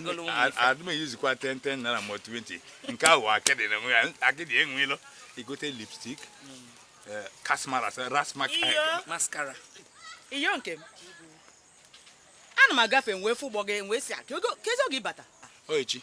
Ngolo ụmụ ife. adị m eyizikwa 10 naira ma 20 nke ahụ akịdị na enwe ya akịdị enwe ilo ị gote lipstick kasmara rasmak iyo mascara iyo nke m ana m agafe m wee fụ ụgbọ gị m wee sị akị oge kezi oge ị bata o echi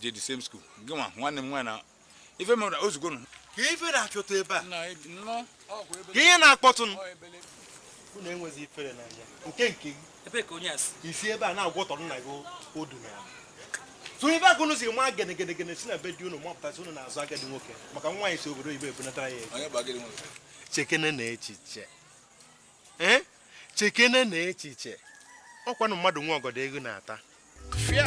je the same school gịnwa nwanne m nwaanyị na ife mere ozugbo nụ ka ife na-achọta ebe a ka ihe na-akpọtụ m unu enweghị ifere n'anya nke nke gị ebe ka onye asị isi ebe a na-agwọtọ nna gị odu na ya sọ ife a ka unu si ma gene gene gene si na be di unu mapụtasị unu na-azọ agadi nwoke maka nwaanyị si obodo oyibo ebunatara ya chekene na echiche ee chekene na echiche ọkwanụ mmadụ nwe ọgọdọ eghu na-ata fia